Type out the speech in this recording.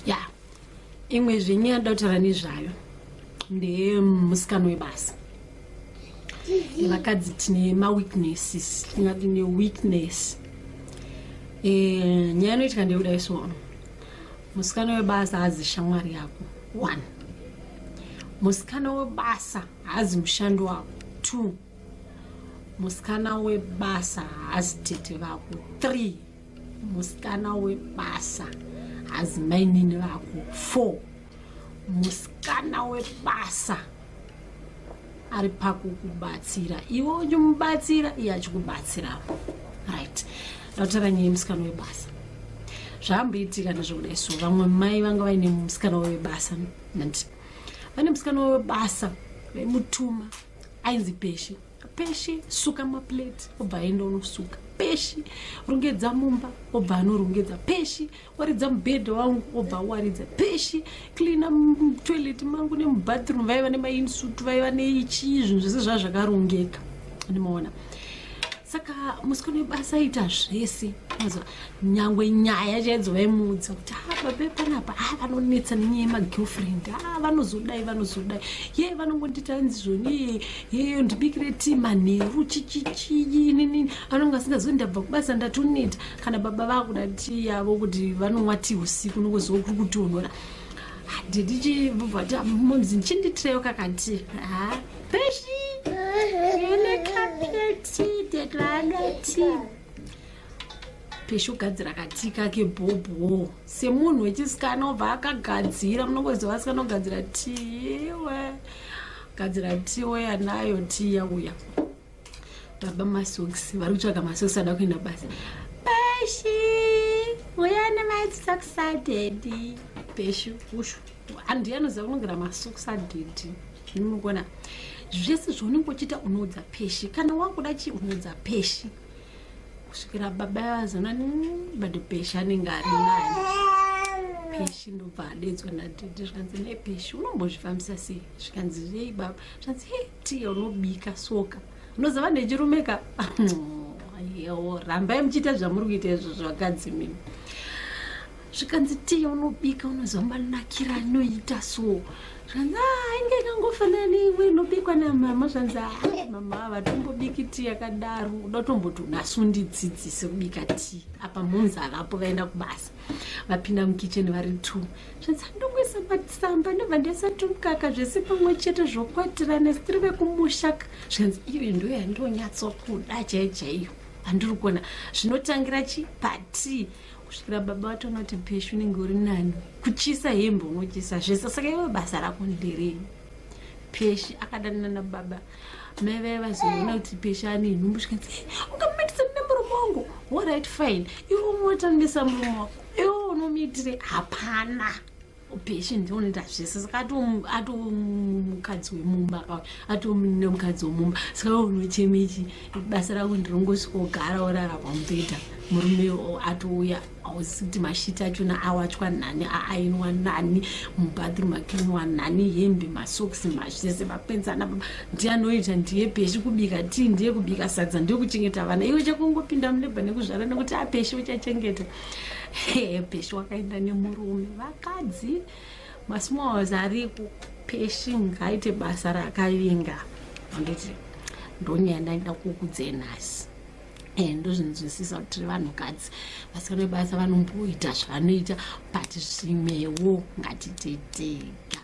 ya imwe zvenyu yanoda kutaura nezvayo ndemusikano webasa vakadzi tine maweaknesses tingati neweakness e, nyaya inoitika ndeyekuda isono musikano webasa hazi shamwari yako one musikana webasa haazi mushandi wako two musikana webasa haazi tete vako three musikana webasa hazi mainini vako four musikana webasa ari pakukubatsira iwe uchimubatsira iye achikubatsirawo right ndataura nyaya yemusikana webasa zvaamboitika ndezvokudai so vamwe mai vanga vaine musikana webasa nandi vane musikana webasa vaimutuma ainzi peshe peshe suka maplate obva aenda unosuka peshi rongedza mumba obva anorongedza peshi waridza mubhedha wangu obva awaridza peshi cleana toilet mangu nemubathroom vaiva nemainsuit vaiva neichii zvinhu zvese zvaa zvakarongeka ndimaona saka musikano webasa aita zvese mazuva nyangwe nyaya chaidzo vaimuudza kuti ha ah, babe panapa ha ah, vanonetsa nenyaya yemagirlfriend ha ah, vanozodai vanozodai ye vanongondiita anzi zvoni ye ndibikire ti manheru chichichiinini anonge asingazivi ndabva kubasa ndatoneta kana baba vakuda ti yavo kuti vanomwa ti usiku nongoziva kuri kutonhora didi vati momzi ndichinditireyo kakati ha peshi ine kapeti detlana ti peshe kugadzira katika kebhobho semunhu wechisikana obva akagadzira munongoziva asikana ogadzira tiwe gadzira tiwe anayo tiya uya baba masokisi vari kutsvaga masokisi ada kuenda basa peshi uya nemaisokisi adhedhi peshi ushu andiye anoziva kunogera masokisi adhedhi zvinokona zvese zvaunenge uchiita unoudza peshi kana wakuda chii unoudza peshi kusvikira baba vazona bade peshi anenge ari nani peshi ndobva adedzwa nadhidhi zvikanzi ne peshi unombozvifambisa sei zvikanzi rei baba zvikanzi he tiye unobika soka unoziva nechirume ka yewo rambai muchiita zvamuri kuita izvo zvakadzi mimi zvikanzi tiya unobika unoziva manakira anoita so zvanzi ah, inge ikangofanana neimwe inobikwa namama zvanzi ah, mama havatombobiki ti yakadaro uda kutomboti unasi undidzidzise kubika ti apa mhunzi havapo vaenda kubasa vapinda mukicheni vari two zvanzi andongoisa ah, matsamba ndobva ndasati mukaka zvese pamwe chete zvokwatirana sitiri vekumushaka zvanzi iyo ndo yandonyatsokuda chaiyo chaiyo andiri kuona zvinotangira chi patii kusvikira baba vatonoti peshu unenge uri nani kuchisa hembe unochisa zvese saka iwe basa rako nderei peshi akadanana nababa mai vaya vazoona kuti peshi ane nhumbu zvikanzi eh, ungamatisani nemurume wangu orit fine iwe umotanisa murume wako iwe unomiitire hapana Peshe ndinoita zvese saka atomukadzi wemumba pa atonemukadzi wemumba saka unochemechi basa rako ndirongosvika ogara orara pamubhedha murume atouya ausi kuti mashiti achona awachwa nani aainwa nani mubathroom akinwa nani hembe masokisi mazvese mapenzana ndianoita ndiye peshe kubika tii ndiye kubika sadza ndiye kuchengeta vana iwe chakungopinda muleba nekuzvara nekuti apeshe uchachengeta peshi wakaenda nemurume vakadzi masmalls ariko peshi ngaite basa rakavinga anditi ndonyaya ndaida kukudzei nhasi eh, ndozvinzwisisa kuti vanhukadzi vasikana vebasa vanomboita zvavanoita but zvimwewo ngatititega